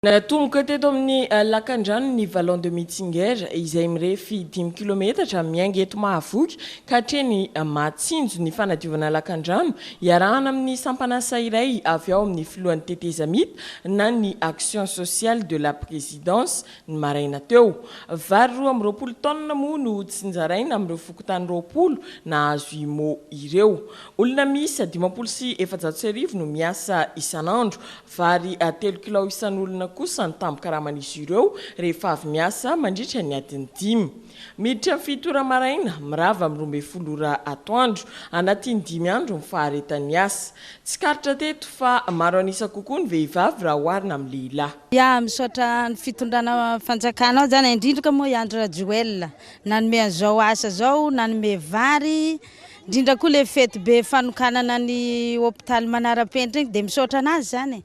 Natomboka teto amin'ny lakandrano ny Vallon de Mitzinger, izay mirefy dimy kilometatra, miainga eto Mahavoky ka hatreny Mahatsinjo, ny fanadiovana lakandrano, iarahana amin'ny sampan'asa iray avy ao amin'ny filohan'ny tetezamita na ny Action sociale de la Présidence, ny maraina teo. Vary roa amby roapolo taonina moa no tsinjaraina amin'ireo fokontany roapolo nahazo IMO ireo. Olona miisa dimampolo sy efajato sy arivo no miasa isan'andro. Vary telo kilao isan'olona kosa ny tambin-karaman'izy ireo rehefa avy miasa mandritra ny adiny dimy. Miditra ny fito ora maraina, mirava amin'ny roa ambin'ny folo ora atoandro. Anatin'ny dimy andro ny faharetan'ny asa. Tsikaritra teto fa maro an'isa kokoa ny vehivavy raha oharina amin'ny lehilahy. Ya, misaotra ny fitondrana fanjakana ao zany, indrindra moa i Andry Rajoelina nanome an'izao asa zao, nanome vary. Indrindra koa ilay fety be fanokanana ny hopitaly manara-penitra iny dia misaotra anazy izany e.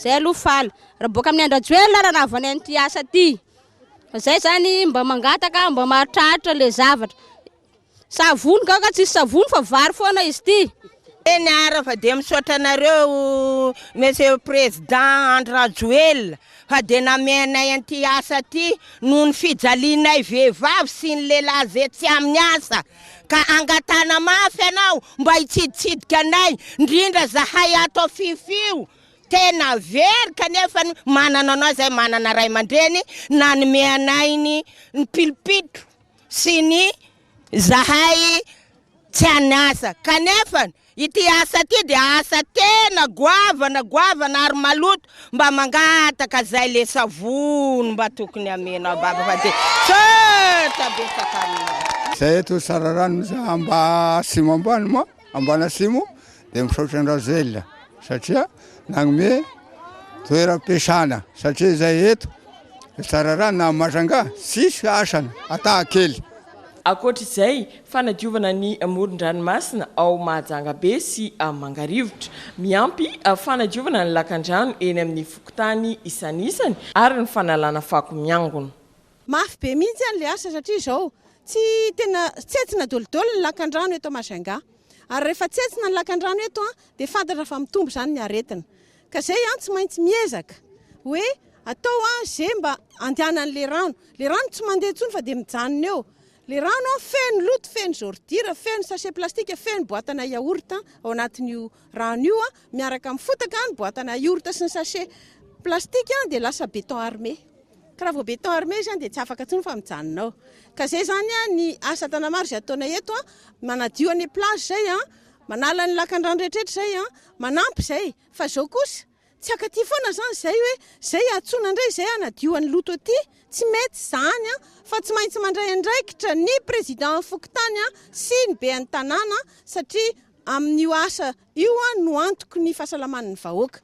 Zay aloha faly. Raha boaka amin'i Andrajoelina ary raha vao any amin'ity asa ity. Fa zay zany mba mangataka mba mahatraritra le zavatra. Savony gaga tsisy savony fa vary foana izy ity. Eny ara fa dia misaotra anareo Monsieur Président Andry Rajoelina fa dia namehy anay an'ity asa ity noho ny fijalianay vehivavy sy ny lehilahy ze tsy amin'ny asa. Ka angatahana mafy anao mba hitsiditsidika anay ndrindra zahay ato a fiffiu tena very kanefa ny manana anao zay manana ray aman-dreny nanome anay ny ny pilipitro sy ny zahay tsy an'asa kanefa Ity asa ity dia asa tena goavana goavana ary maloto mba mangataka zay le savony mba tokony amenao baba fa de tsotra betsaka aminao. Zay eto Tsararano misy amba simo ambany ma ambana simo de misaotra an Rajoel satria nagnome toeram piasana satria zay eto Tsararano na Majanga tsisy asana ata kely. Ankoatra izay, fanadiovana ny moron-dranomasina ao Mahajanga be sy Mangarivotra. Miampy fanadiovana ny lakandrano eny amin'ny fokontany isanisany ary ny fanalana fako miangona. Mafy be mihitsy ary ilay asa satria izao, tsy tena tsentsina dolidoly ny lakandrano eto Majunga. Ary rehefa tsentsina ny lakandrano eto dia fantatra fa mitombo izany ny aretina. Ka zay an tsy maintsy miezaka hoe atao an ze mba andehanan'le rano. Le rano tsy mandeha tsony fa dia mijanona eo. Le rano an feno loto, feno zordira, feno sachet plastique, feno boatana yaourt ao anatin'io rano io an, miaraka amin'ny fotaka ny boatana yaourt sy ny sachet plastique an dia lasa beton armé. Ka raha vao beton armé izy an dia tsy afaka tsony fa mijanona ao. Ka zay zany an ny asa tanamaro zay ataonay eto an, manadio an'le plage zay an, Manala ny lakandrano rehetrretra izay an, manampy izay, fa izao kosa tsy akaty foana izany izay hoe izay iantsoana indray izay hanadio an'ny loto aty, tsy mety izany an, fa tsy maintsy mandray andraikitra ny président fokontany an sy ny ben'ny tanàna satria amin'io asa io an no antoky ny fahasalaman'ny vahoaka.